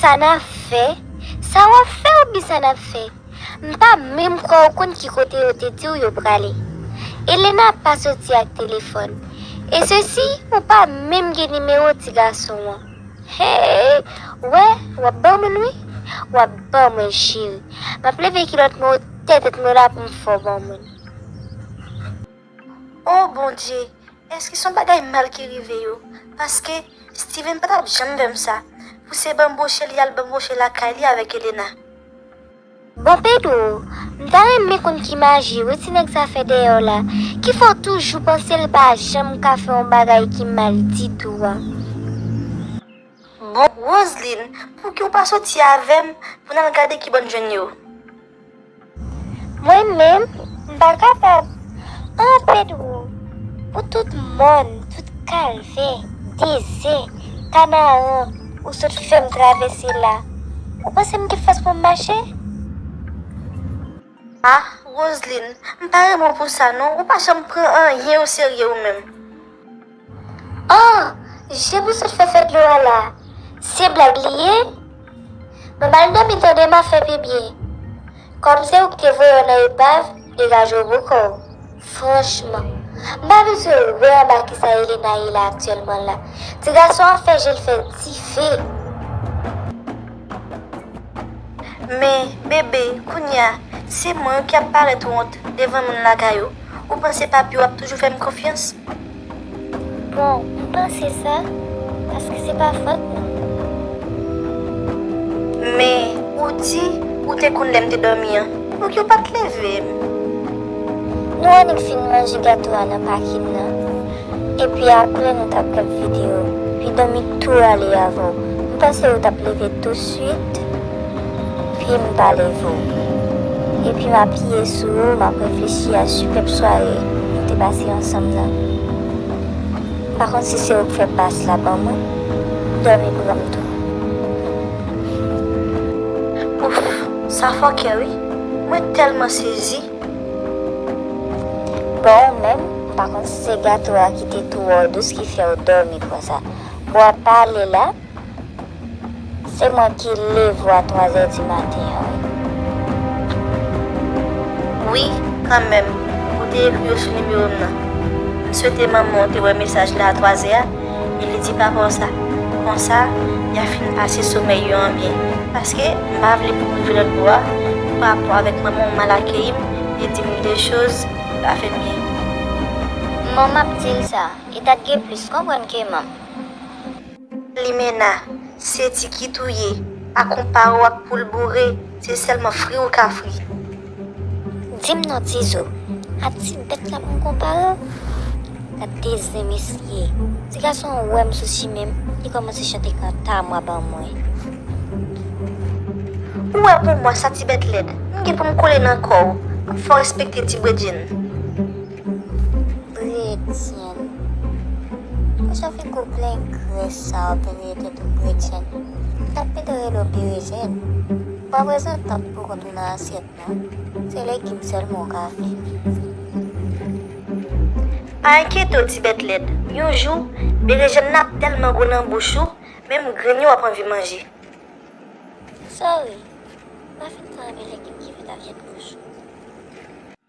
Sa nap fè? Sa wap fè oubyen sa nap fè? M pa menm kwè ou konn ki kote yo te diw yo prale. Elena pa soti ak telefòn. E sesi ou pa menm gen nimewo ti gason an. Heyy wè wap ban moun wi. Wap ban mwen cheri. Map leve kilòt mwen otè tèt mwen la poum fè w ban moun. Oh bondye Eske son bagay mal ki rive yo paske Steven patap janm vèm sa pou se banboche li al banboche lakay li avèk Elena. Bon Pedro, m ta renmen konn ki maji wi ti nèg sa fè dèyè w la ki fè w toujou panse l pa janm ka fè yon bagay ki mal ditou an. Bon Roseline pouki w pa soti avèm pou n al gade ki bò n jwenn yo. Mwen menm m pa kapab. An Pedro pou tout mòn, tout kalvè, dezè, kanaran ou sot fè m travèse la, ou panse m gen fòs pou m mache? Ah Roseline, m pa renmen w pou sa non, ou pa janm pran anyen o serye ou menm. Ahh jem ou sot fè fè dlo a la se blag li ye Map al domi tande map fè pipi Kom se ou ki te voyew nan epav degajew bokow franchman Mpa abitye wè anba kisa Elena ye la aktyèlman la ti gason an fè jel fè dife. Men, bebe, kounye a, se mwen wi ki ap parèt wont devan moun lakay ou. Ou panse papi ou ap toujou fè m konfyans? Bon, m panse sa, paske se pa fòt mwen. Men, ou di, ou te konn lè m te dòmi an, donk yo pa t leve m. Nou annik fin manje gato a nan pakin nan. Epi apre nou tap gad video. Pi domi tou rale avw. M panse ou tap leve tou swit pye m pa leve w. Epi m apiye sou ou map reflechi a sipèp sware nou te pase ansanm nan. M pa konn si se ou k fè bass la banm wi. Domi pranm tou. Ouff sa fòkè wi. Mwen telman sezi. Bon ou menm m pa konn si se gato a ki te twò dous ki fèw dòmi konsa. Bon ap pale la se mwen ki leve w a 3 zè di maten an wi. Wi kanmenm ou te ekri yo sou nimewo m nan. M swete manman w te wè mesaj la a 3 zè a. Li di papa w sa. Konsa, y a fin pase somèy yo an byen. Paske, m pa vle pou w rive lòt bò a, pou pa rapò avèk manman w mal akeyi m e di m de choz ki pa fè m byen. Kman m ap di l sa? E ta dwe plis konprann ke manm. Limena, Se ti kit ou ye. Pa konpare w ak poul boure. Se sèlman fri ou ka fri. Dim non tizo. A ti bèt la pou m konpare w. Gad de zen mesye. Ti gason an wè m sou chimen m, li kòmanse chante kanta mwa ban mwen. Ou wè pou mwa sa ti bèt lèd. M gen pou m kole nan kò w. M fè w respekte ti bredjenn. Bredjenn. Pou sa figo plen grès sa w ap rele tèt ou bredjenn. Ou ta pito rele w berejèn. Ou pa prezantab pou kont ou. menm nan asyèt la, se legim sèlman w ka fè. Pa enkyete w ti bèt lèd, yon jou, berejèn nan ap tèlman gou nan bouch ou, menm grenn yo w ap anvi manje. Sòry, m pa fin twò renmen legim ki fèt a vyann wouj.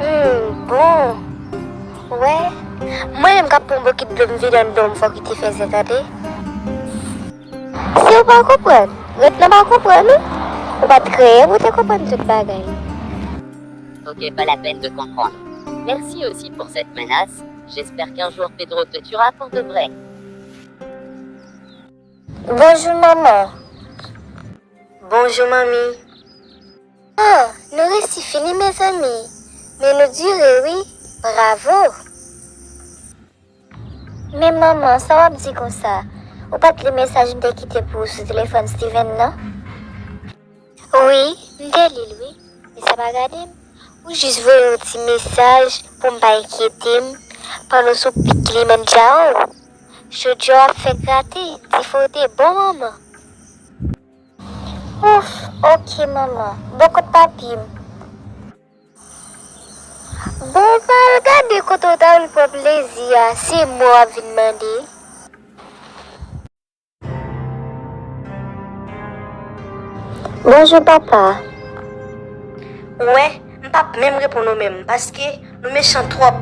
Humm bon Ou wè Mwen menm kap pran bokit dlo m vide anndan w m fè w kite fèzè tande Si w pa konprann Ret nan pa konprann ou Ou pat kreye pou w te konprann tout bagay Ok pas la peine de comprendre Merci aussi pour cette menace J'espère qu'un jour Pedro te tuera pour de vrai Bonjour maman Bonjour manmi. Ahh nou resi fini mezanmi men nou dure wi bravo. Men manman sa wap di konsa. Ou pat li mesaj m te kite pou ou sou telefòn Steven nan? Wi m te lil wi men sa pa gade m ou jis voye yon ti mesaj pou m pa enkyete m pandan w sou pik li menm tchaoo. Chodya w ap fè grate dife w te bon manman. Ouff ok manman bon kot papi m. Bon pral gade kote ou ta vin pran plezi a se mò wap vin mande. Bonjour papa. Ou wè m pap menm reponn ou menm paske. Nou mechan trop.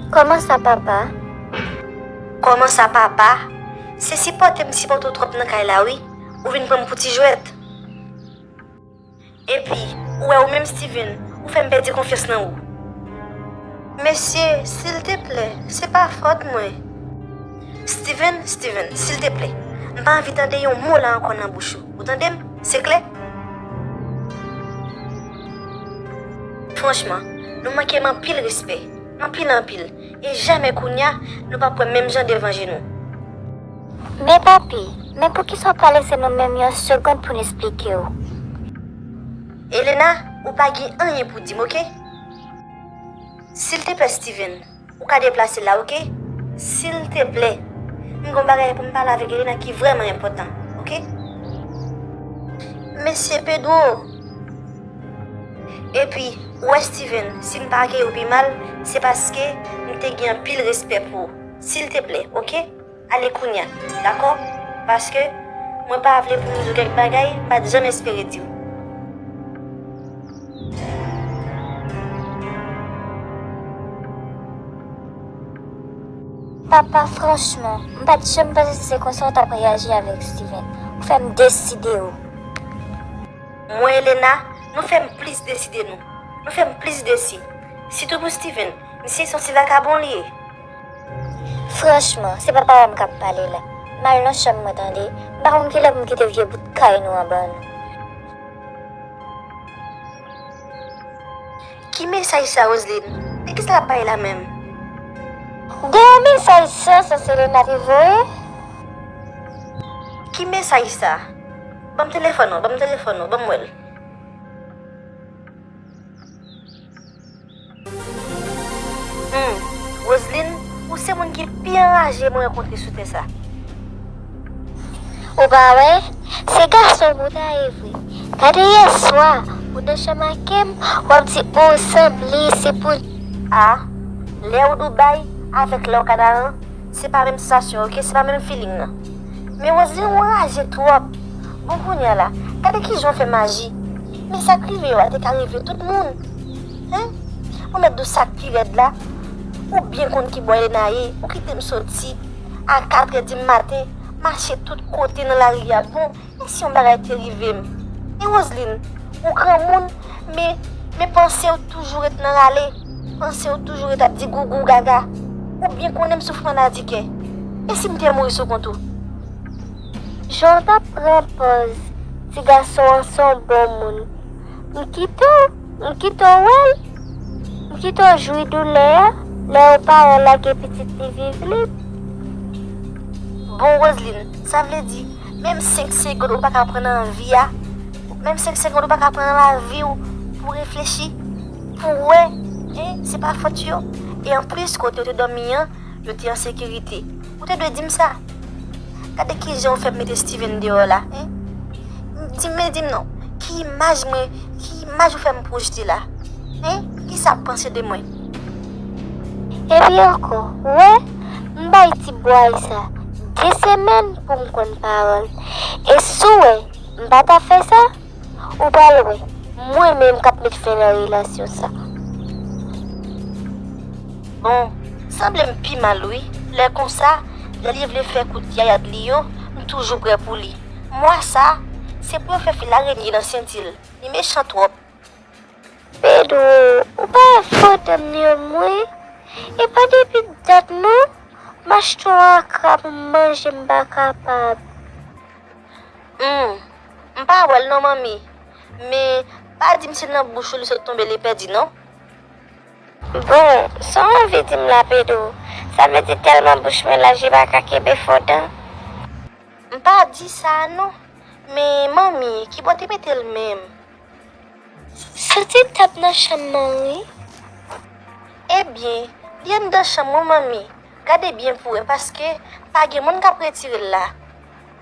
Koman sa papa? Koman sa papa? Se sipote m sipote w trop nan kay la wi. Ou vin pran m pou ti jwet. Epi ou wè ou menm Steven ou fè m pèdi konfyans nan ou. Mesye sil te plè se pa fot mwen. Steven, Steven, sil te plè. M pa anvi tande yon mo la anko nan bouch ou. Ou tande m? Se klè? Franchman, nou manke m anpil respè. Anpil anpil. E jamè kounya, nou pa pwè menm jan devan je nou. Men papi, men poukisa w pa lese nou menm yon segond pou n esplike w? Elena, ou pa gen anyen pou di m, oke? Silteplè Steven. Ou ka deplase la ok. Sil te plè. M gon bagay pou m pale avek Elena ki vreman enpotan ok. Mesi Pedro. Epi ou wè Steven si m pa akeyi w pi mal se paske m te gen anpil respè pou ou. Sil te plè ok. Ale kounya. Dakò? Paske, mwen pa vle pou m di w kèk bagay m pa t janm espere di w. Papa, franchman, m pa t janm panse se konsa w t ap reyaji avèk Steven. Ou fè m deside w. Mwen, Elena, nou fè m plis deside nou. Nou fè m plis desi. Sitou pou Steven. Misye se yon ti vakabon li ye. Franchman, se pa param kap pale la. M al nan chanm mwen tande, m pa konn kilè pou m kite vye bout kay nou an ban nou. Ki mesaj sa Roseline? De kisa lap pale la menm? De yon mesaj san sans Selena te voye? Ki mesaj sa? Banm telefòn ou, banm telefòn ou, banm wèl. Humm Roseline ou se moun ki pi anraje mwen rankontre sou tè sa. Ou pa wè se gason ou ta ye vre gade yèswa ou nan chanm akem wap di ou sanble se pou. A lè ou Dubai avèk lè ou Kanaran se pa menm sansasyon ok se pa menm feeling nan men Roseline ou anraje twòp bon kounya la gade kijan ou fè maji. Men sak rive yo a te ka rive tout moun hein Mwen mèt dou sak pi rèd la ou byen konn ki bò Ena ye ou kitem soti a 4 è di maten mache tout kote nan lari a bon e si yon bagay te rivem e Roseline ou granmoun men men pansew toujou ret nan rale pansew toujou ret ap di gougou gaga ou byen konnen m soufri maladikè e sim te mouri sou kont ou. Jan w t ap pran pòz ti gason an se yon bon moun. M kite w M kite w wè l M kite w jwi doulè a lè yon paran lage pitit li viv lib. Bon Roseline, sa vle di menm 5 segond ou pa ka pran nan vi a? Menm 5 segond ou pa ka pran nan lavi w pou w reflechi? Pou w wè? Hein, se pa fòt yo. E anplis kote yo te dòmi an, yo te an sekirite. Ou te dwe dim sa. Gade kijan ou fè mete Steven deyò la hein. Dim men dim non, ki imaj mwen, ki imaj ou fè m pwojte la hein. Kisa ap panse de mwen. Epi ankò, ou wè, m bay ti bway sa 2 semèn pou m konn pawòl. E si w wè m pa ta fè sa, Ou pral wè Mwen menm kap met fen nan relasyon sa. Bon sanble m pi mal wi lè konsa lè li vle fè kout yayad li yo m toujou prè pou li mwa sa se pou yo fè fil arenye nan sentil li mechan twòp. Pedro ou pa wè foto m yo mwen e pa depi dat non macheton akra pou m manje m pa kapab. Humm M pa wèl non manmi. Men pa dim se nan bouch ou li sot tonbe li pèdi non. Bon Saw anvi dim la Pedro? Sa vle di telman bouch mwen laj li paka kenbe fo dan? M pa di sa non. Men manmi ki bò te metel menm? Soti tap nan chanm nan wi. Ebyen li anndan chanm wan manmi. Gade byen pou wè paske pa gen moun kap retirel la.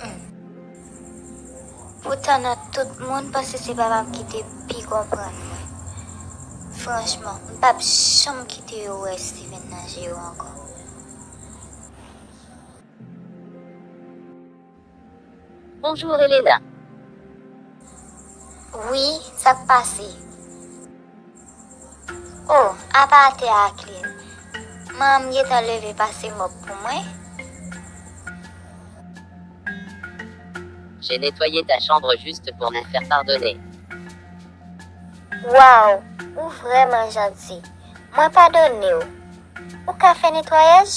Humm. Poutan nan tout moun panse se papam ki te pi konprann mwen. Franchman, m pap janm kite yo wè Steven nan je yo ankò. Bonjour Elena. Wi, sak pase? Oh apa atè a klin. M'en m gentan leve pase mop pou mwen. J'ai nettoyé ta chambre juste pour me faire pardonner. Waww ou vrèman janti mwen padonew ou ka fè netwayaj?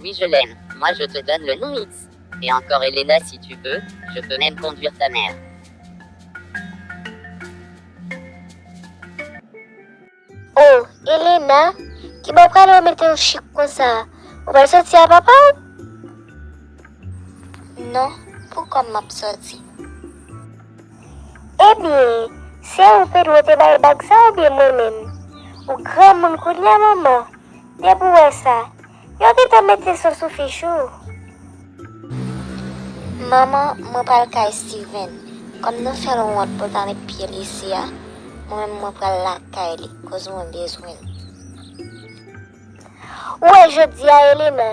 Oui je l'aime moi je te donne le noumix et encore Elena si tu veux je peux même conduire ta mère. Oh Elena kibo ou prale ou mete ou chik konsa ou pral soti a papa ou? Non pou kòm map soti. Ebyen se ou Pedro te bay bag sa oubyen mwen menm? Ou granmoun kounya manman. Depi w wè sa. Yo gentan mete son sou fich ou. Manman mwen pral kay Steven kòm nou fèl wont poul pa met pyel isi a mwen menm mwen pral lakay li koz mwen bezwenl. Ou wè jodia Elena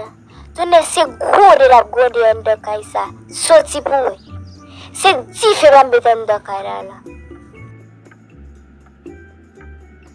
tounen se gwode lap gwode anndan kay sa soti pou wè se dife lap met anndan kay la la.